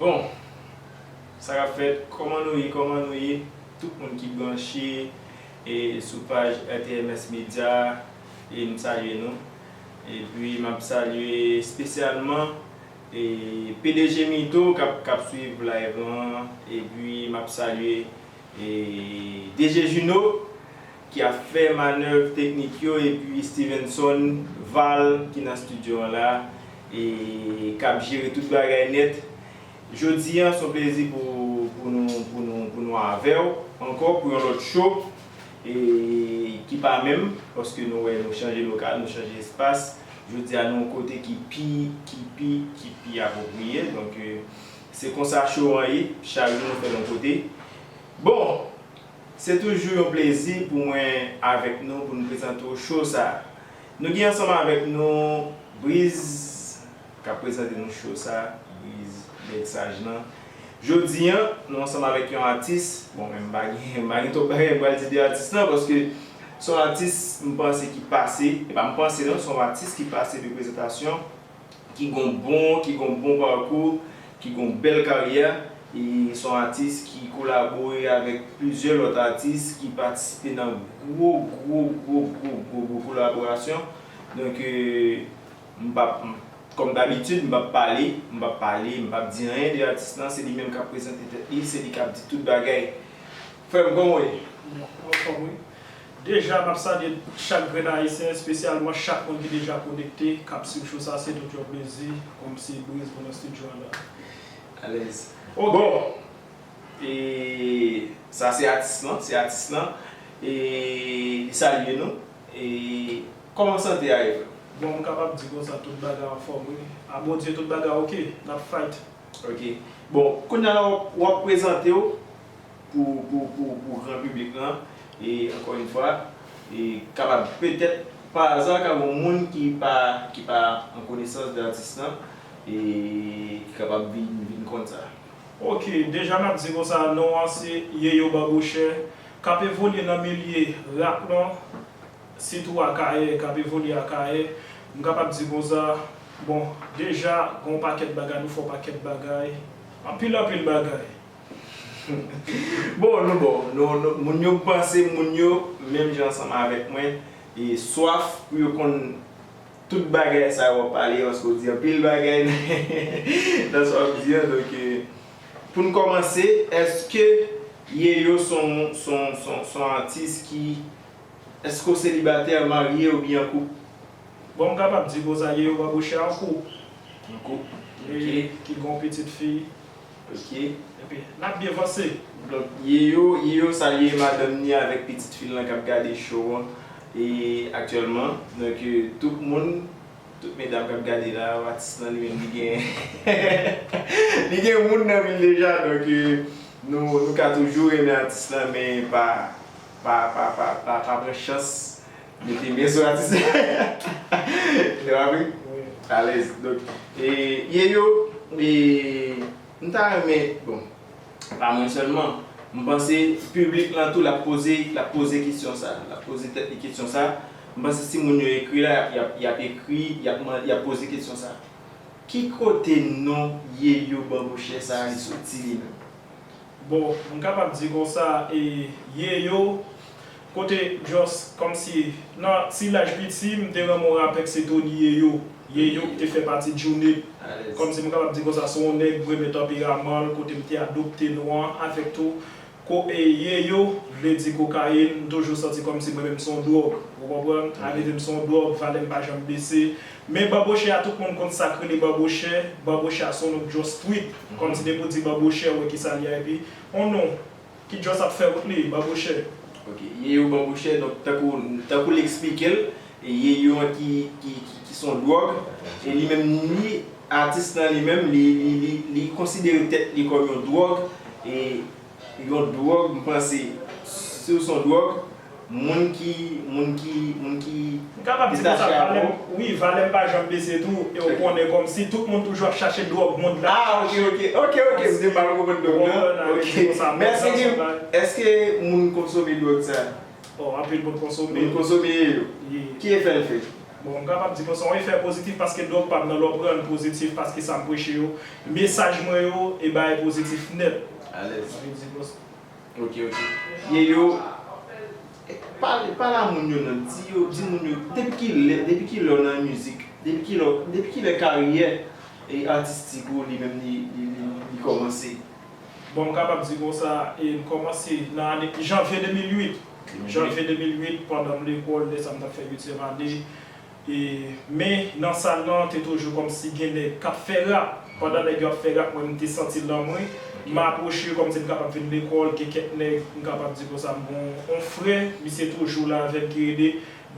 Bon Sa kap fèt Koman nou ye Koman nou ye Tout moun ki branche e sou paj rtms media e m salye nou epi map salye spesyalman e pdg Mito kap swiv live lan epi map salye e DG Juno ki ap fè manèv teknik yo epi Stevenson Val ki nan studio an la e k ap jere tout bagay nèt. Jodi an s on plezi pou pou nou pou nou pou nou avè w ankò pou yon lòt show e ki pa menm paske nou wè nou chanje lokal nou chanje espas jodi a nou yon kote ki pi ki pi ki pi apwopriye donk se konsa show an ye chak jou nou fè l yon kote bon Se toujou yon plezi pou mwen avèk nou pou nou prezante w show sa. Nou gen ansanm avèk nou Briz k ap prezante nou show sa, Briz nèg saj lan. Jodi an, nou ansanm avèk yon atis, bon men m pa gen, m pa gen twòp bagay m pral di de atis lan paske s on atis m panse ki pase, e pa m panse non, s on atis ki pase de prezantasyon. ki gon bon ki gon bon parkou, ki gon bèl karyè e se yon atis ki kolabore avèk plizyè lòt atis ki patisipe nan gwo gwo gwo gwo gwo gwo kolaborasyon donk m pap kòm dabitid m pap pale m pap pale m pap di anyen de atis lan se li menm kap prezante tèt li se li kap di tout bagay frè m kòman w ye? Mwen anfòm wi. Deja map salye chak grenn ayisyen espesyalman chak moun ki deja konekte kap swiv show sa se tout yon plezi pou m ti briz pou nan studio an nan. Alèz. Bon e sa se atis lan se atis lan e li salye nou e kòman sante a Ev. Bon m kapab di konsa tout bagay anfòm wi a Bondye tout bagay ok nap fight. Ok bon kounya wap prezantew pou pou gran piblik lan e ankò yn fwa e kapab petèt pa aza ka gon moun ki pa ki pa an konesans de atis lan e ki kapab vin vin konn sa. Ok deja nap di konsa non an se Yeyo Babouchè kap evolye nan milye rap lan sitou Akayè kap evolye Akayè m kapab di konsa bon deja gon pakèt bagay nou fè w pakèt bagay anpil anpil bagay. Bon nou bon nou moun yo m panse moun yo menm jan ansanm avèk mwen e swaf pou yo konn tout bagay sa yo wap pale yo paske ou di anpil bagay nan sa wap di an donk pou n kòmanse èske Yeyo s on s on s on s on atis ki èske ou selibatè marye oubyen an koup? Bon m kapab di konsa Yeyo Babouche an koup an koup ok ki gen yon pitit fi. Ok. Epi nap byen vanse. Donk Yeyo Yeyo salye madanm ni avèk pitit fil lan kap gade show an aktyèlman. Donk tout moun tout medam kap gade la atis lan li menm li gen li gen moun nan vil deja donk nou nou ka toujou renmen atis lan men pa pa pa pa pa pran chans Mete men sou atis la Nou wè wi Alèz Donk e Yeyo e m ta renmen bon pa mwen sèlman m panse piblik lan tou l ap poze l ap poze kesyon sa l ap poze tèt li kesyon sa m panse si moun yo ekri la y ap y ap ekri y ap man y ap poze kesyon sa Ki kote non Yeyo Banbochè sa li soti li menm? Bon m kapab di konsa e Yeyo Kote Joss komsi nan ti laj piti m te renmen w rapè k se Tony Yeyo, Yeyo k te fè pati Djounit komsi m kapab di konsa se yon nèg m renmen tanperaman l kote m te adopte non an avèk tou ko e Yeyo vle di kokayin m toujou santi komsi mwen menm m se yon dwòg ou konprann arive m se yon dwòg valè m pa janm bese men Banbochè a tout moun konn sa k rele Banbochè Banbochè a se yon non Joss Tweet komsi depi w di Banbochè wè kisa l ye epi yon non. Ki just ap fè wout li banbochè. Ok yeyo banbochè donk tankou tankou li eksplike l yeyo an ki ki son dwòg e li menm li atis lan li menm li li li konsidere tèt li kòm yon dwòg e yon dwòg m panse si w son dwòg Moun ki moun ki moun ki M kapab di konsa valèm wi valèm pa janm bese tou e ou konnen kòmsi tout moun toujou ap chache dwòg mond la ap chache ok ok ok ok m te mal konprann dwòg nan ok mèsi dim èske moun konsome dwòg sa oh anpil moun konsome moun konsome yo ki efè l fè bon m kapab di konsa yon efè pozitif paske dwòg pa m nan lè w pran l pozitif paske sa m preche yo mesaj mwen yo e bagay pozitif nèt alèz. Ok ok ye yo pale pale a moun yo nan di yo di moun yo depi kilè depi kilè ou nan mizik depi kilè ou depi kilè karyè e atistik ou li menm li li kòmanse. Bon m kapab di konsa e m kòmanse nan ane janvye 2008 janvye 2008 pandan m lekòl lè sa m tap fè uityèm ane. Men nan sal lan te toujou kòmsi gen nèg kap fè rap. Pandan nèg yo ap fè rap mwen m te santi l nan mwen. M apwoche yo kòmsi m kapab vin lekòl gen kèk nèg m kapab di konsa m gon on frè misye toujou la avè m ki rele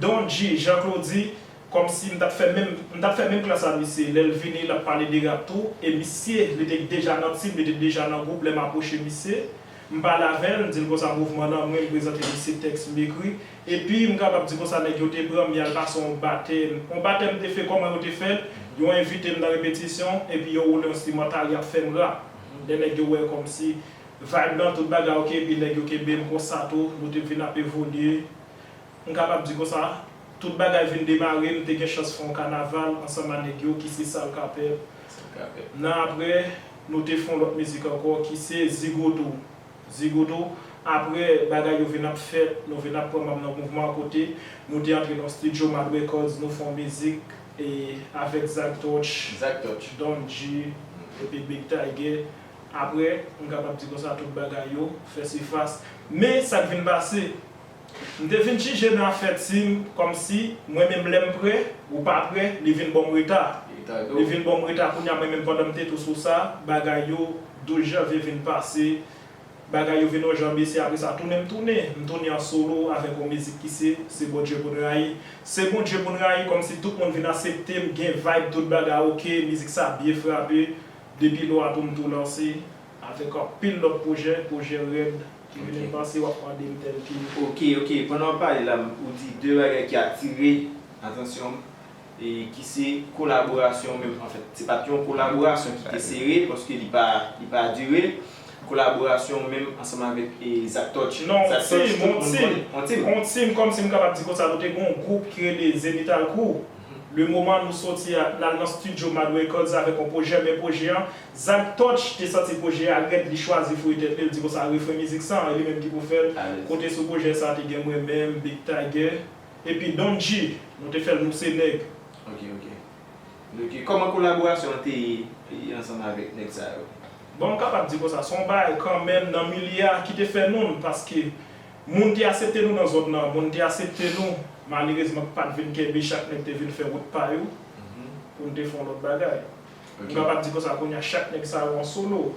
Don G, Jean Claudy, kòmsi m tap fè menm m tap fè menm klas a misye. Lè l vini l ap pale de rap tou e misye li te deja nan team li te deja nan gwoup lè m apwoche misye m pale avè l m di l konsa mouvman nan mwen m prezante misye tèks m ekri. Epi, m kapab di konsa nèg yo te pran m y al pase yon batèm. Yon batèm te fè kòman yo te fè l, yo envite m nan repetisyon, epi yo woule enstrimantal y ap fè m rap. Lè nèg yo wè kòmsi vayb lan, tout bagay ok, epi nèg yo kenbe m konsa tou, nou te vin ap evolye. M kapab di konsa, tout bagay vin demare, m te gen chans fè yon kanaval ansanm a nèg yo ki se Sal Ka Pèp. Nan apre, nou te fè yon lòt mizik ankò ki se Zigoto. Zigoto, Apre bagay yo vin ap fèt, nou vin ap pran manm nan mouvman kote, nou te antre nan stidyo Mad Records nou fè yon mizik e avèk Zak Touch, Zak Touch. Don G epi Big Tiger. Apre, m kapab di konsa tout bagay yo fè sifas. Men sa k vin pase, M te vin jije nan afè team kòmsi mwen menm lèm prè ou pa prè li vin bonm reta li vin bonm reta kounya mwen menm pandanm te tou sou sa bagay yo dous janvye vin pase bagay yo vin on jan bese apresa tounen m tounen m tounen an solo avèk on mizik ki se se Bondye poun rayi se Bondye poun rayi kòmsi tout moun vin aseptem gen vibe tout bagay ok mizik sa byen frape depi lò a tou m tou lanse Avèk anpil lòt pwojè, pwojè rèd ki vin nan panse w ap mande m tèlke. Ok, ok, pandan w ap pale la, ou di 2 bagay ki atire atansyon m, e ki se kolaborasyon w menm. Anfèt, se pa t yon kolaborasyon ki te sere, paske li pa, li pa dire. Kolaborasyon w menm ansanm avèk Zak Tòch. Non, Zak Tòch, tout moun konnen. On team, on team, kòm si m kapab di konsa, nou te gen yon gwoup ki rele Zenitalcrew. Le moman nou soti a, n al nan stidyo Mad Records avèk yon pwojè, men pwojè an, Zak Touch te santi pwojè a rèd li chwazi fouye tèt li, li di konsa refren mizik sa an e li menm ki pou fè l, kote sou pwojè sa te gen mwen menm, Big Tiger, epi Don G, nou te fè l nou se nèg. Ok ok ok kòman kolaborasyon an te ye ansanm avèk nèg sa yo? Bon m kapab di konsa se yon bagay kanmenm nan milye a ki te fè nou n paske moun te asepte nou nan zòn nan, moun te asepte nou malerezman k pat vin kenbe chak nèg te vin fè wout pa yo pou n te fè yon lòt bagay. M kapab di konsa kounya chak nèg sa yo an solo.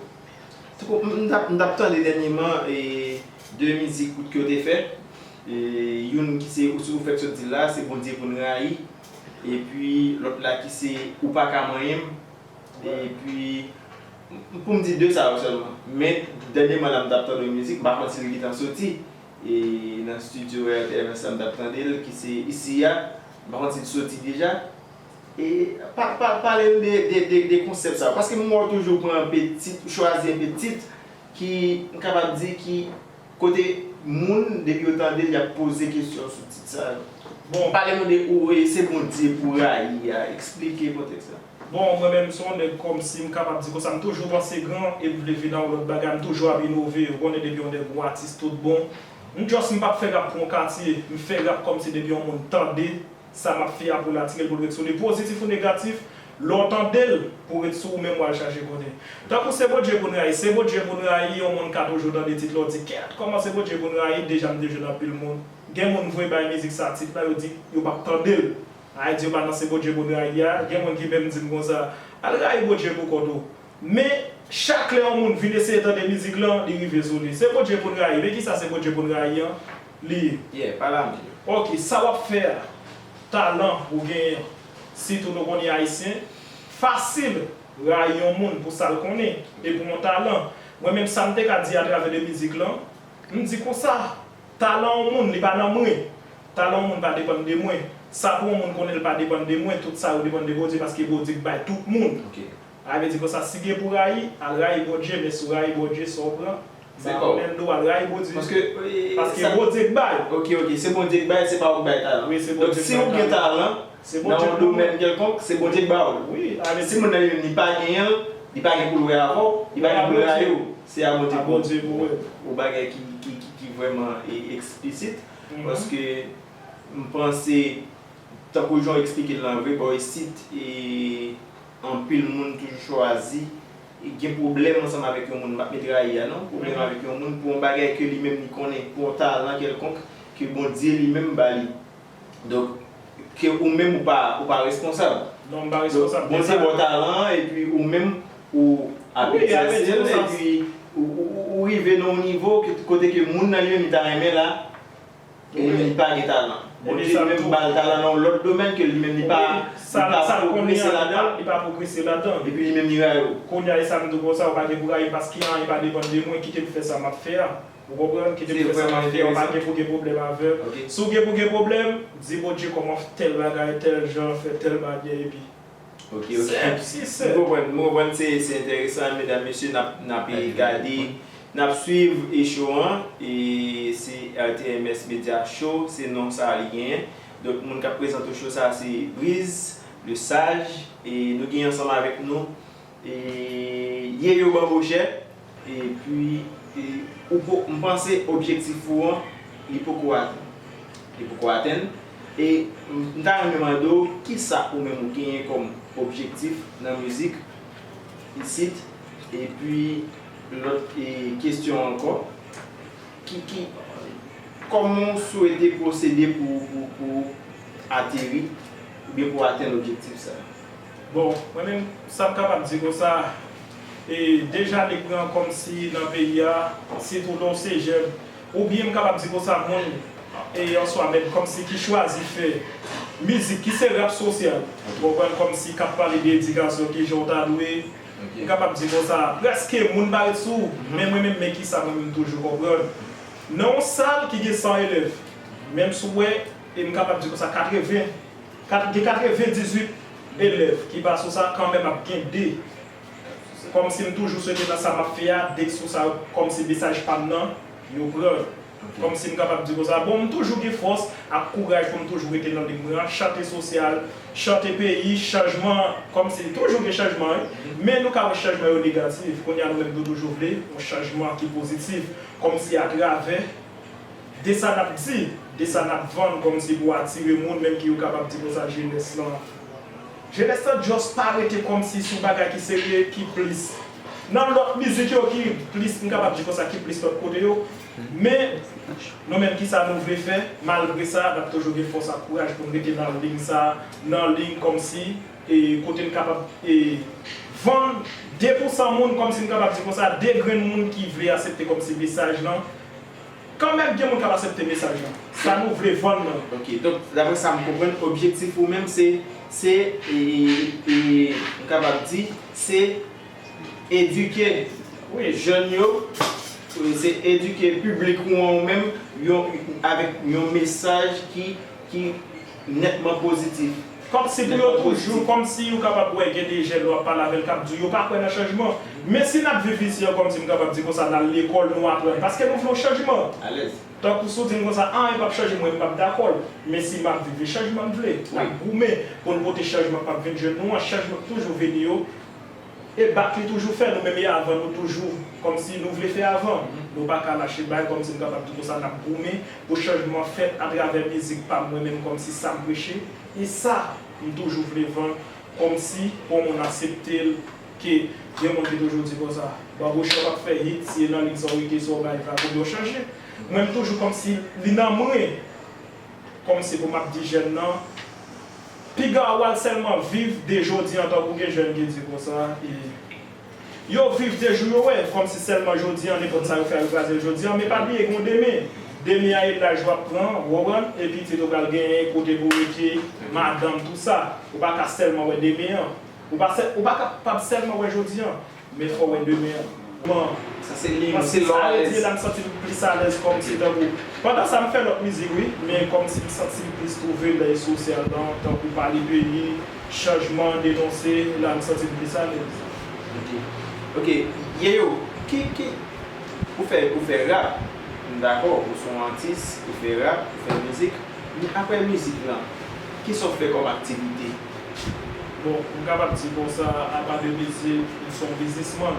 Tko m tap m tap tande dènyeman e 2 mizik kout ke yo te fè e youn ki se ou ou fèk sot di l la se Bondye pou n rayi epi lòt la ki se ou pa ka manyen m epi pou m di 2 sa yo sèlman men dènyeman la m tap tande yon mizik m pa konn si l gentan soti e nan studio RTMS la m tap tande l ki se isi a m pa konn si l soti deja. Pale m de konsèp sa yo. Paske m wè w toujou pran anpe tit, ou chwazi anpe tit ki m kapab di ki kote moun depi yo tande l y ap poze kesyon sou tit sa yo. Bon, pale nou de Ou e se Bondye pou w rayi a. Eksplike kontèks la. Bon, mwen menm m se yon nèg kòm si m kapab di konsa m toujou panse gran e m vle vin nan yon lòt bagay. M toujou ap inove. Ou konnen depi yon nèg yon atis tout bon. M just m pa p fè rap pou yon katye. M fè rap kòm si depi yon moun tande. Sa map fia pou natirel poul ret sou li pozitif ou negatif lè w tandel pou ret sou ou menm wal chache konnen tankou se Bondye pou n rayi se Bondye pou n rayi yon moun ka toujou tande tit la w di kèt kòman se Bondye pou n rayi deja m te jwenn anpil moun gen moun vre bay mizik sa tit la yo di yo pap tande l ay di yo pa nan se Bondye pou n rayi a gen moun ki menm di m konsa al rayi Bondye pou kont ou Men, chak lè yon moun vin eseye tande mizik lan, li rive sou li. Se Bondje pou n rayi. Men kisa se Bondje pou n rayi an li ye? Yeah, pale a mnje. Ok, sa wap fè a, talan ou genyen an, sitou nou konnen Ayisyen, fasil rayi yon moun pou sa l konnen e pou yon talan. Mwen menm sa m te ka di atravè de mizik lan, m di konsa, talan yon moun li pa nan mwen, talan yon moun pa depann de mwen, sa pou yon moun konnen l pa depann de mwen, tout sa yo depann de Bondye paske Bondye k bay tout moun. Ok. Rayi vle di konsa si gen pou rayi al rayi Bondye men si w rayi Bondye sa w pran se pa w menm tou al rayi Bondye paske Bondye k bay. Ok ok se Bondye k bay se pa w k bay talan donk si w gen talan nan yon domèn kèlkonk se Bondye k ba w l si moun nan li pa genyen l li pa gen pou l wè avè w li pa gen pou l rayi w se a Bondye pou w l yon bagay ki vrèman eksplisit paske m panse tankou jan w eksplike l lan vre bò isit e Anpil moun toujou chwazi gen pwoblèm ansanm avèk yon moun, m pa t met rayi a non, pwoblèm avèk yon moun pou yon bagay ke li menm li konnen, pou yon talan kèlkonk ke Bondye li menm ba li. Donk, ke ou menm ou pa, ou pa responsab. Non, m pa responsab de sa. Bondye ba w talan an epi ou menm ou ap egzèse l epi ou rive nan yon nivo kote ke moun nan li menm li ta renmen la. Ou menm li pa gen talan. Bondye li menm bal talan nan yon lòt domèn ke li menm li pa sa li pa pwogrese ladanl. Li pa pwogrese ladanl. Epi li menm li rayi ou. Kounya e sa m di w konsa ou pa gen pou rayi m paske anyen pa depann de mwen kite m fè sa map fè a. Ou konprann? Kite m fè sa map fè a ou pa gen pou gen pwoblèm avè m. Si w gen pou gen pwoblèm, di Bondye kòman fè tèl bagay, tèl jan, fè tèl manyè epi. Ok ok m konprann m konprann se enteresan medam mesye nap gade nap swiv e show an e se rtms media show se non sa li genyen donk moun kap prezante show sa se Brizz le sage e nou genyen ansanm avèk nou. Ye yo ban mojè epi ou po m panse objektif ou an li poko atenn li poko atenn e m ta renmen mande w kisa ou menm ou genyen kòm objektif nan mizik isit epi lòt kesyon ankò ki ki kòman w swete pwosede pou pou ateri oubyen pou atenn objektif sa. Bon, mwen menm sa m kapab di konsa, e deja li pran kòm si nan peyi a, sitou lè w se jèn, oubyen m kapab di konsa moun e an swa menm kòm si ki chwazi fè mizik ki se rap sosyal, ou konprann, kòm si k ap pale de edikasyon, ki jan w ta dwe, m kapab di konsa, prèske moun pa ret sou, men mwen menm men ki sa mwen menm m toujou konprann, nan yon sal ki gen 100 elèv, menm si w wè, e m kapab di konsa 80. Kat gen 98 elèv ki pa sou sa kanmenm ap gen 2 kòm si m toujou swete nan sa map fè a 2 k sou sa kòm si mesaj pam nan yo pran kòm si m kapab di konsa bon m toujou gen fòs ak kouraj pou m toujou rete nan lig mwen an chante sosyal chante peyi chanjman kòm si toujou gen chanjman wi men nou ka wè chanjman yo negatif kounye a nou menm nou toujou vle yon chanjman ki pozitif kòm si atravè. de sa nap di, de sa nap vann kòmsi pou atire moun menm ki yo kapab di konsa jenès lan, jenès lan just pa rete kòmsi sou bagay ki serye ki plis nan lòt mizik yo ki plis m kapab di konsa ki plis lòt kote yo men nou menm kisa nou vle fè malgre sa nap toujou gen fòs ak kouraj poun rete nan ling sa nan ling kòmsi e kote n kapab e vann de pou san moun kòmsi m kapab di konsa de grenn moun ki vle asepte kòmsi mesaj lan Kan mèm gen moun kap asepte mesaj lan. Sa nou vle vann nan. Ok donk daprè sa m konprann objektif ou menm se se m kapab di se edike jèn yo se edike piblik ou an ou menm avèk yon mesaj ki nètman pozitif. Kòmsi pou yo toujou, kòmsi ou kapab wè gen de jèn ou ap pale avè l k ap di w yo pa kwè nan chanjman. Men si n ap viv isi an kòmsi m kapab di konsa n al lekòl nou aprann paske nou vle yon chanjman. Tankou si w di m konsa anyen p ap chanje mwen m p ap dakò l. Men si m ap viv e chanjman m vle. N ap goumen pou n pote chanjman k ap vin jwenn nou an, chanjman k toujou vini yo. E back li toujou fè nou menm e avan nou toujou kòmsi nou vle fè avan nou paka lache bay kòmsi nou kapab di konsa nap goumen pou chanjman fèt atravè mizik pam mwen menm kòmsi sam preche e sa m toujou vle vann kòmsi bon moun asepte l ke gen moun ki toujou di konsa Babouchon pap fè hit si e nan lit sa w rete sa w bay vag oubyen w chanje mwen m toujou kòmsi li nan mwen. Kòm se pou map di jèn nan, piga ou al sèlman viv de jodi an tankou gen jèn ki di konsa e yo viv de jou yo wè kòm si sèlman jodi an nenpòt sa yo fè a yo kraze l jodi an men pa bliye gen yon demen, demen an e laj wap pran ou konprann e pitit ou pral genyen, kote pou rete, madanm tout sa, ou pa ka sèlman wè demen an, ou pa kapab sèlman wè jodi an. Men fòw wè demen an. Bon Sa se li menm se lò alèz. Sa rete la m santi m plis alèz kòm se tankou pandan sa m fè lòt mizik wi men kòm si m santi m plis twouve lè e sou sèn lan tankou pale peyi chanjman denonse la m santi m plis alèz. Ok ok Yeyoo ki ki ou fè ou fè rap m dakò ou se yon atis ou fè rap ou fè mizik men aprè mizik lan kisa w fè kòm aktivite? Bon, m kapab di konsa, apa de mezye, nou se yon biznisman.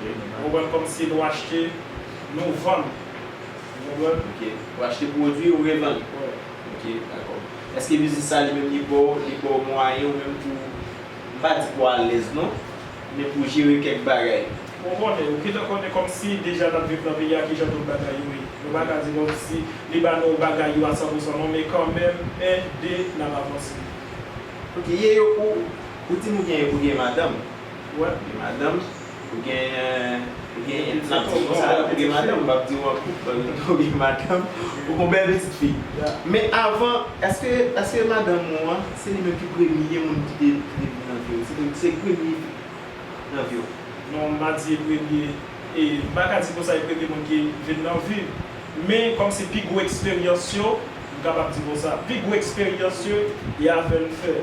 Ou konprann? Kòmsi nou achte, nou vann. Ou konprann? Ok. Ou achte pwodui, ou revann. Wi. Ok, dakò. Eske biznis sa li menm li ba w, li ba w mwayen ou menm pou, m pa di pou w alèz non, men pou w jere kèk bagay? Ou konnen, ou gentan konnen kòmsi deja n ap viv nan peyi a kijan tout bagay yo ye. Nou pa ka di kòmsi li ba nou bagay yo a sanpousan non, men kanmenm, 1, 2, n ap avanse. Ok ye yo pou ou dim ou gen ou gen madanm ou wè ou gen madanm ou gen ou gen map diw konsa ou gen madanm map diw ankou ou gen madanm ou gon bèl pitit fi men avan eske eske madanm ou an se li menm ki premye moun ki te ki te vini nan viw se li se premye nan viw. Non m pa di e premye e m paka di konsa e premye moun ki vin nan vim men kòm se pi gwo eksperyans yo M kapab di konsa. Pi gwo eksperyans yo e avè n fè.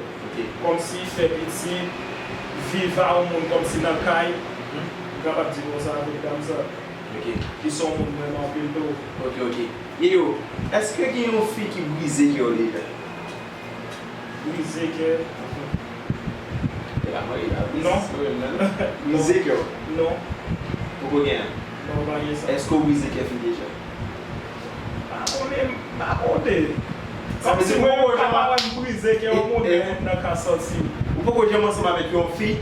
Kòmsi fè pitit, viv a on moun kòmsi nan kay. M kapab di konsa avèk dam sa. Ki s on moun m renmen anpil tou. Ok ok. Yeyoo. Èske gen yon fi ki brize kè w deja? Brize kè? Non. Brize kè w? Non. Poko gen? Non, m pa gen sa. Èske w brize kè fi deja? Mpa konnen mpa konte. Sa vle di mwen yon ka pa wèm brize gen yon monnen moun nan ka santim. Ou poko janm ansanm avèk yon fi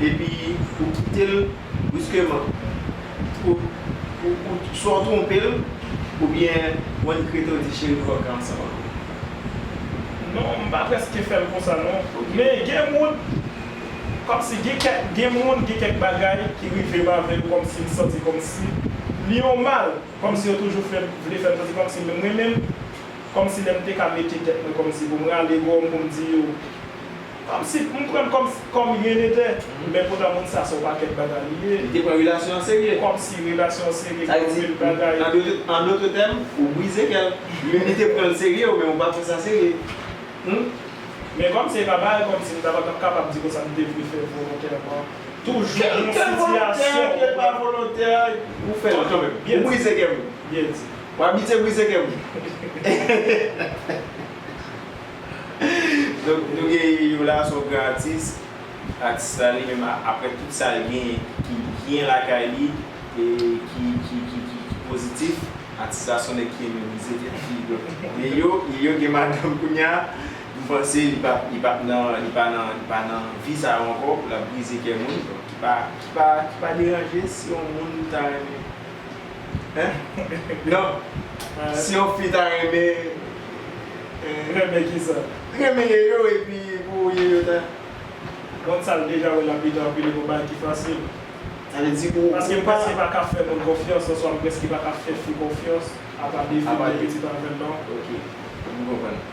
epi ou kitel bruskeman pou ou swa ou twonpel oubyen ou regrete ou di cheri m pap ka ansanm avèw. Non mpa preske fèl konsa non. Men gen moun kòmsi gen kèk gen moun gen kèk bagay ki rivem avèl kòmsi m santi kòmsi li yon mal. Kòmsi yo toujou fè vle fè poze kòmsi menm mwen menm kòmsi lè m te ka mete tèt mwen kòmsi pou m rale gòm pou m di yo kòmsi m pran l kòm kòm ryen netè men poutan moun sa se yon pakèt bagay li ye. Li te pran relasyon an serye. Kòmsi relasyon an serye Sa vle di an dotre an dotre tèm ou brize kè l menm li te pran l serye ou menm ou pa fè sa serye humm. Men kòmsi e pa parèt kòmsi m ta pa t ap kapab di konsa m te vle fè volontèman. Toujou gen yon sitiyasyon ke pa volontè pou fè l kanmenm. Ou brize kè m wi. Ou abitye brize kè m wi. Donk nou gen Yola son gran atis. Atis la li menm aprè tout sa l genyen ki byen lakay li e ki pozitif. Atis la son nèg ki renmen brize kè. Lilio gen madanm kounya. M panse li pa li pa nan li pa nan li pa nan vi sa yo ankò pou lap brize kè moun ki pa ki pa ki pa deranje si yon moun ta renmen hein non si yon fi ta renmen renmen kisa? renmen Yeyo epi pou Yeyo ta Moun sa l deja wè lap vide anpil e gon bagay ki fasil Sa vle di ou paske m prèske pa ka fè moun konfyans oswa m prèske pa ka fè fi konfyans apa de fi m gen pitit avèl non ok m konprann.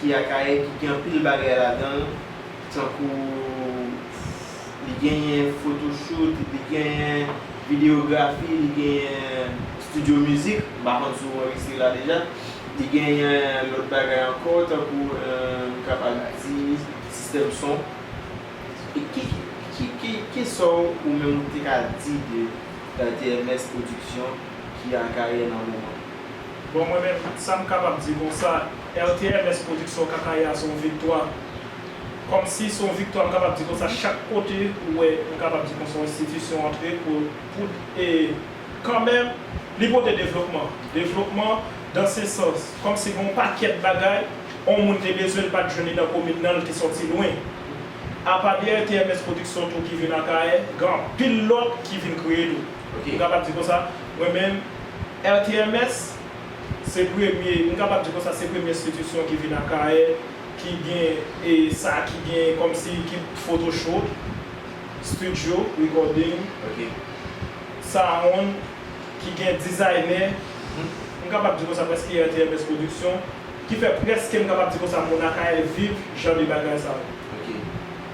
Ki Akayè ki gen anpil bagay ladan l tankou li genyen photoshoot, li genyen videyografi, li genyen studio mizik, m pa konn si w anrejistre la deja, li genyen lòt bagay ankò tankou m kapab di sistèm son. E ki ki kisa w ou menm ou te ka di de TMS production ki Akayè nan moman? Bon mwen menm sa m kapab di konsa. RTMS production kaka ya son viktwa kòmsi son viktwa m kapab di konsa chak kote ou wè m kapab di konsa yon enstitisyon antre pou pou e kanmenm li pote devlopman devlopman dan se sans kòmsi gon pakèt bagay on moun te bezwen l pat jwenn li nan komin nan l te sòti lwen apa de RTMS production tou ki vin akayè gen anpil lòt ki vin kreye tou m kapab di konsa mwen menm RTMS. Se premye, m kapab di konsa se premye enstitisyon ki vin Akayè ki gen e sa ki gen kòm si ki foto shoot, studio recording, sound, ki gen dizaynè, m kapab di konsa prèske e RTMS production, ki fè prèske m kapab di konsa moun Akayè viv jan de bagay sa yo.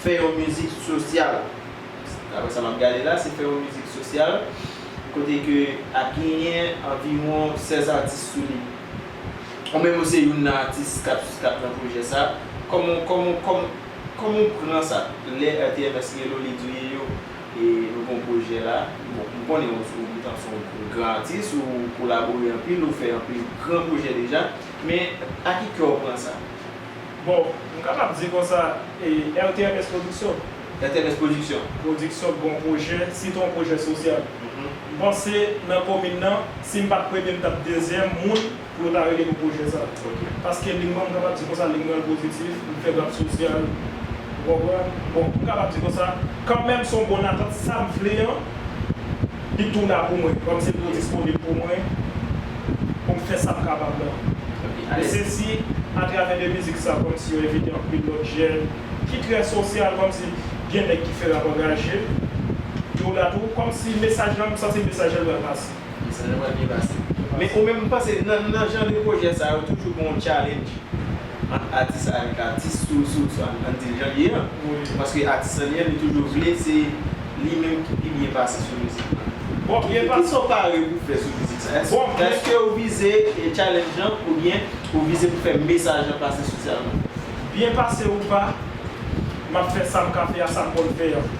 Fè yon mizik sosyal. Daprè sa m ap gade la, se fè yon mizik sosyal kote ke ap genyen anviwon 16 atis sou li. Ou menm ou se youn nan atis k ap k ap nan pwojè sa. Kòman w kòman w kòman w kòman w pran sa lè RTMS rele w li di w Yeyo e nou gen yon pwojè la? Bon, m konnen ou se ou se yon gran atis, ou kolabore anpil, ou fè anpil gran pwojè deja. Men, a ki kè w pran sa? Bon, m kapab di konsa, e RTMS Production. RTMS Production. Production bon pwojè, sitou yon pwojè sosyal. M panse nan komin nan, si m pa t premye m t ap dezyèm moun pou yo ta rele pou pwojè sa. Paske ling mwen, m kapab di konsa, ling mwen l pozitif, m fè rap sosyal, ou konprann. Bon, m kapab di konsa, kanmenm s on bon atant, sa m vle an, Li tou la pou mwen, kòm se tou disponib pou mwen, pou m fè sa m kapab la. E se si, a travè de mizik sa, kòm si yo envite anpil lòt jèn, ki trè sosyal, kòm si gen nèg ki fè rap angaje, yo la tou, kòm si mesaj la, m santi mesaj la pral pase. Mesaj la pral byen pase. Men ou menm, ou panse nan jan de pwojè sa yo, toujou gen yon challenge? ant atis la avèk atis sou sou sou ann di jan l ye an paske atis lan li menm li toujou vle se li menm ki pi byen pase sou mizik lan Bon byen pa Kisa w pare pou w fè sou mizik sa? Èske Bon byen èske w vize challenge lan oubyen ou vize pou fè mesaj lan pase sosyalman? Byen pase ou pa M ap fè sa m ka fè a sa m konn fè an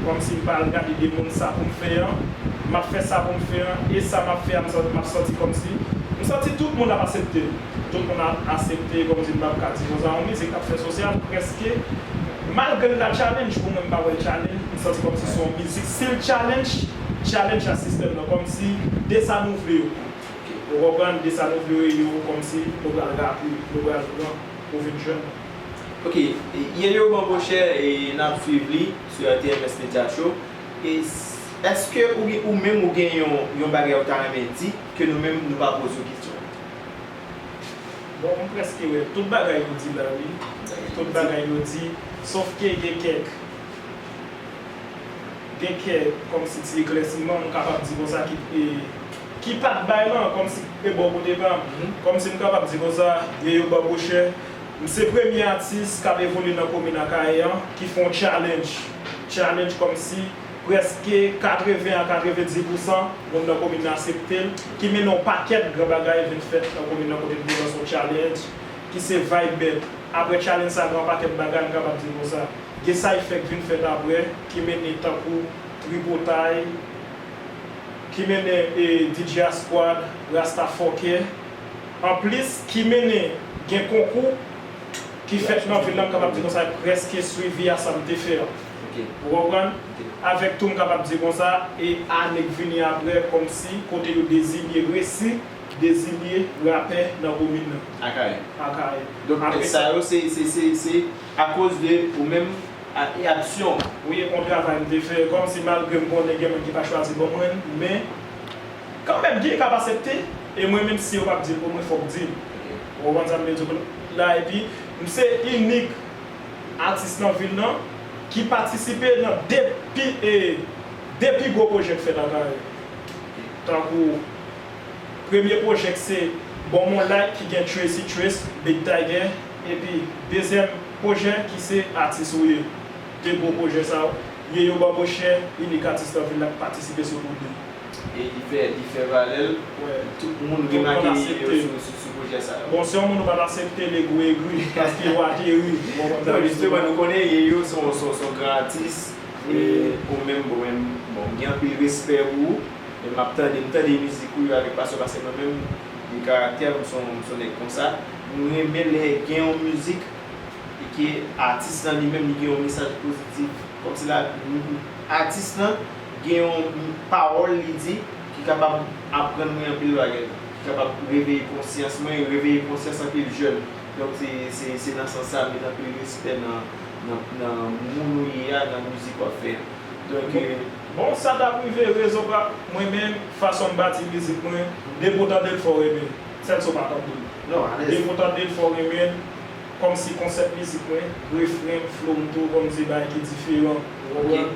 Kòmsi m pa al gade de moun sa pou m fè an M ap fè sa pou m fè an e sa m ap fè a m sa m ap santi kòmsi M santi tout moun ap asepte m. Tout moun ap asepte kòm si m pap ka di konsa yon mizik kap fè sosyal prèske malgre l ta challenge pou mwen m pa wè l challenge m santi kòm si se yon mizik si l challenge challenge a sistèm nan kòm si de sa nou vle yo ou konprann de sa nou vle yo yo kòm si nou pral rape nou pral pran ou vin jwenn. Ok ye yo Bambochè e nap swiv li sou rtms media show e èske ou menm ou gen yon bagay ou ta renmen di ke nou menm nou pa poze w kesyon. Bon m preske wè tout bagay yo di la wi tout bagay yo di sof ke gen kèk gen kèk kòmsi ti eklèsiman m kapab di konsa ki ki pat bay lan kòmsi e bò kote pa m kòmsi m kapab di konsa e yo babouchè m se premye atis kap evolye nan komin Akayè an ki fon challenge challenge kòmsi Prèske 80 a 90 pousan moun nan komin nan asepte l, ki mennen yon pakèt gran bagay vin fèt nan komin nan kote n te lanse yon challenge ki se Vibe Bed. Aprè challenge sa gen yon pakèt bagay m kapab di nou sa, gen sa y fè k vin fèt aprè ki mennen tankou Tripotay, ki mennen e DJ a Squad, Rasta Fòkè. Anplis ki mennen gen konkou ki fèt nan vil la m kapab di nou sa y prèske swivi a sa m te fè an. Ok ou konprann? Avèk tou m kapab di konsa e ane k vini aprè kòmsi kote yo dezinye resi dezinye rapè nan komin nan. Akayè. Akayè. Donk Apre sa sa. yo se se se se akoz de ou menm a e aksyon w. Wi e on travay m te fè kòmsi malgre m konnen gen moun ki pa chwazi bon mwen men kanmenm gen k ap asepte e mwen menm si yo p ap di l pou mwen fòk di l. Ok. Ou konprann sa m vle di w la epi m se inik. atis nan vil nan ki patisipe nan 2 pi e 2 pi gwo pwojè k fèt ak Arly tankou premye pwojè k se Bon Mon Like ki gen Tracy Trace Big Tiger epi dezyèm pwojè ki se Atis ou ye 2 gwo pwojè sa yo ye yo banbochè inik atis nan vil la k patisipe sou wout li. E li fè li fè valè l. Wè. Tout moun remake li yo sou sou pwojè sa yo. Bon si yon moun ou pat asepte l egri egri paske yo ateri ou pa konn sa yo sou. Nou konnen ye yo son son gran atis e ou menm bon menm bon m gen anpil respè pou ou e m ap tande m tande mizik ou yo avèk pasyon pase mwen menm de karaktè m son m son nèg konsa m renmen lè gen yon mizik e ke atis lan li menm li gen yon mesaj pozitif kòmsi la atis lan. gen yon pawòl li di ki kapab aprann mwen anpil bagay, ki kapab reveye konsyans mwen, reveye konsyans anpil jèn. Donk se nan sans sa, met anpil respè nan moun ou ye a, nan mizik wap fè a. Donk. Bon sa tap rive rezo pa mwen menm fason m bati mizik mwen depi w tande l fò w renmen l sèl si w pa tande l non alèz depi w tande l fò w renmen l kòmsi konsèp mizik mwen refren m flow m tou bon m se bagay ki diferan ou konprann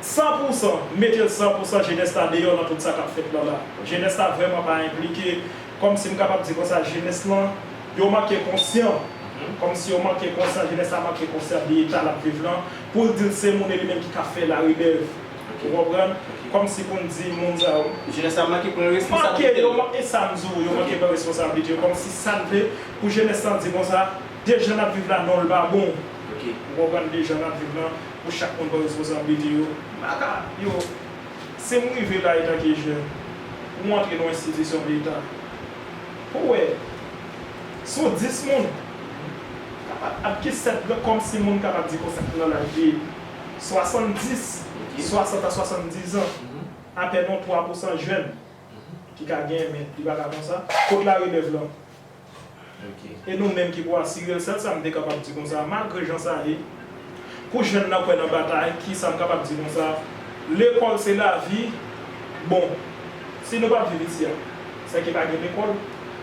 100 pou 100, m mete l 100 pou 100 jenès la deyò nan tout sa k ap fèt lan la. Jenès la vrèman pa enplike, kòm si m kapab di konsa jenès lan, yo manke konsyan, kòm si yo manke konsyan, jenès la manke konsyan de eta l ap viv lan, pou l di l se moun e li menm ki ka fè larelèv. Ou konprann? Kòm si pou n di moun sa yo. Jenès la manke pran responsablite l. Manke, e sa m di w, yo manke pran responsablite yo. Kòm si sa n vle pou jenès lan di konsa, de jan n ap viv la non l pa bon. Ou konprann, de jan n ap viv lan, Pou chak moun pran responsablite yo. Maka, yo. Se m rive la etanke jèn. Pou m antre nan enstitisyon leta. Pou w wè. Sou 10 moun. Kapab ap gen 7 gran kòmsi moun kapab di konsa ki nan laj de 70, 60 a 70 zan. Apèn yon 3 pousan jèn. Ki ka gen men li pa ka konsa. Kot larelèv lan? E nou menm ki pou asire l, sèl sa m te kapab di konsa, malgre jan sa ye, pou jèn nan kwè nan batay, ki sa m kapab di konsa, lekòl se lavi, bon, si nou pa viv isi a, sè ke pa gen lekòl,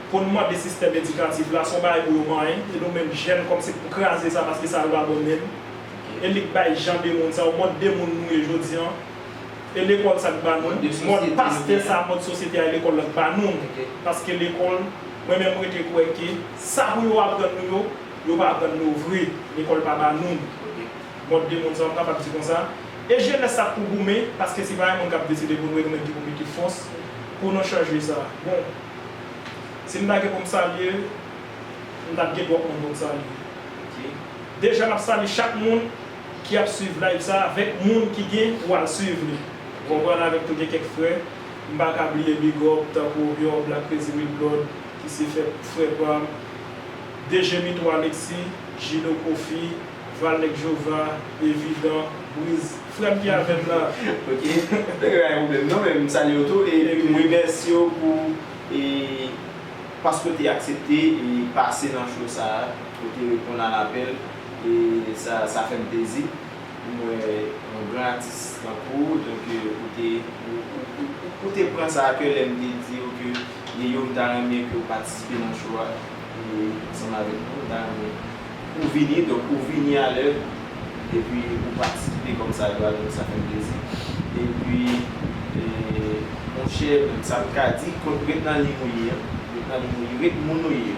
pou n mande sistèm edikatif la, se yon bagay pou yo manyen, e nou menm jèn kòm se pou kraze sa paske sa yo pa bon menm, e li k bay jan de moun sa yo, mòd de moun nou ye jodi an. E lekòl sa k ba nou? Mòd pastè sa a, mòd sosyete a e lekòl la k ba nou. Paske lekòl, mwen menm m rete kwè ke sa pou yo aprann nou yo, yo pa aprann nou vre. Lekòl pa ba nou mòd de moun sa a, m kapab di konsa. E jenès sa k pou goumen, paske se pa yon moun k ap deside pou nou e nou menm ki pou mete fòs pou nou chanje sa. Bon, si m ta gen pou m salye, m t ap gen twòp moun pou m salye. Deja m ap salye chak moun. ki ap swiv live sa avèk moun ki gen pou al swiv li ou konprann avèm tou gen kèk frè m pa ka bliye big up tankou Obior Black Crazy Real Blood ki se fè frè pam DG Mito Alexis Gino Kofi Val Nèg Jewova Evident Briz frè m ki avèm nan. Ok Nèg yo pa gen pwoblèm non men m salye w tou e m remèsye w pou e paske w te aksepte e pase nan show sa a pou w te reponn a lapèl. E sa sa fèm plezi pou m wè yon gran atis tankou w donk ou te ou te pran sa a kè lè m te di yo ke e yo m ta renmen ke w patisipe nan show a ansanm avèk nou m ta renmen pou w vini donk ou vini a lè epi ou patisipe kòm sa dwa donk sa fèm plezi epi monchè sa m ka di kont ret nan liy ou ye an ret nan liy ou ye ret moun ou ye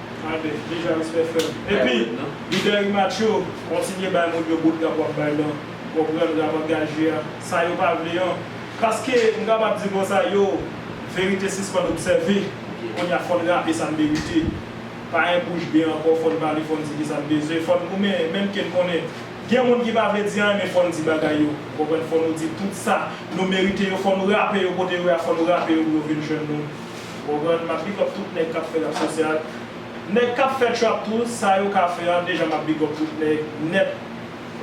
Amen deja respè frèm epi lidè rematch yo kontinye bay moun yo boutgap wap bay lan ou konprann rap angaje a sa yo pa vle an paske m kapab di konsa yo verite sispann obsève kounya fòn rape sa n merite pa en bouch be ankò fòn pale fòn di kisa n bezwen fòn goumen menm ke n konnen gen moun ki pa vle di anyen men fòn di bagay yo ou konprann fò nou di tout sa nou merite yo fò nou rape yo kote yo ye a fò nou rape yo pou yo vin jwenn nou. Ou konprann map big up tout nèg kap fè rap sansè ak nèg kap fè trap tou sa yo ka fè an deja map big up tout nèg nèt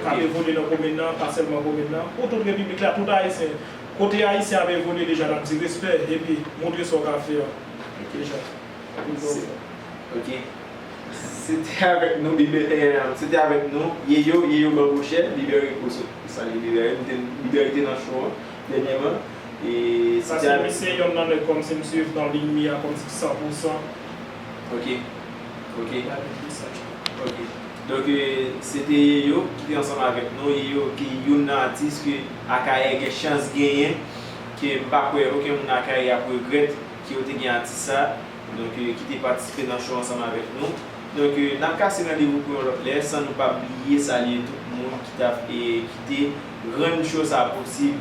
kap evolye nan kominn nan pa sèlman kominn nan pou tout repiblik la tout ayisyen kote ayisyen ap evolye deja nap di respè epi moutre sa w ka fè an deja map big up ou. Ok se te avèk nou libè eemm se te avèk nou yeyo yeyo banbòchè libere ou sot ou sa libere libere te nan cho an Dènyèman, Sa se misye yonn nan nèg kòmsi m swiv nan liy mi a kòmsi san pou san. Ok. Ok. Gade ki sa ki. Ok. Donk se te Yeyo ki te ansanm avèk nou. Yeyo ki yonn nan atis ke Akayè gen chans genyen, ke m pa kwè oken moun Akayè ap regrèt ke yo te gen atis sa a. Donk ki te patisipe nan show ansanm avèk nou. Donk n ap kase randevou pou yon lòt lè san nou pa bliye salye tout moun ki t ap kite. Rann show sa posib.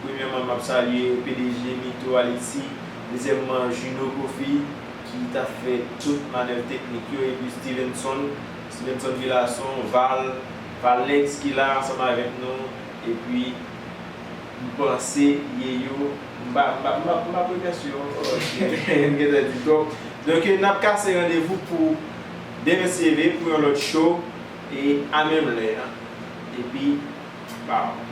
Premyèman map salye pdg Mito Haiti, dezyèmman Juno Kofi ki tap fè tout manèv teknik yo epi Stevenson, Stevenson Villason, Val, Valnex ki la ansanm avèk nou epi m panse Yeyo m pa m pa m pap remèsye yo ankò paske m gentan di twòp. Donk nap kase randevou pou demen si Dieu veut pou yon lòt show. E a menm lè a epi baww.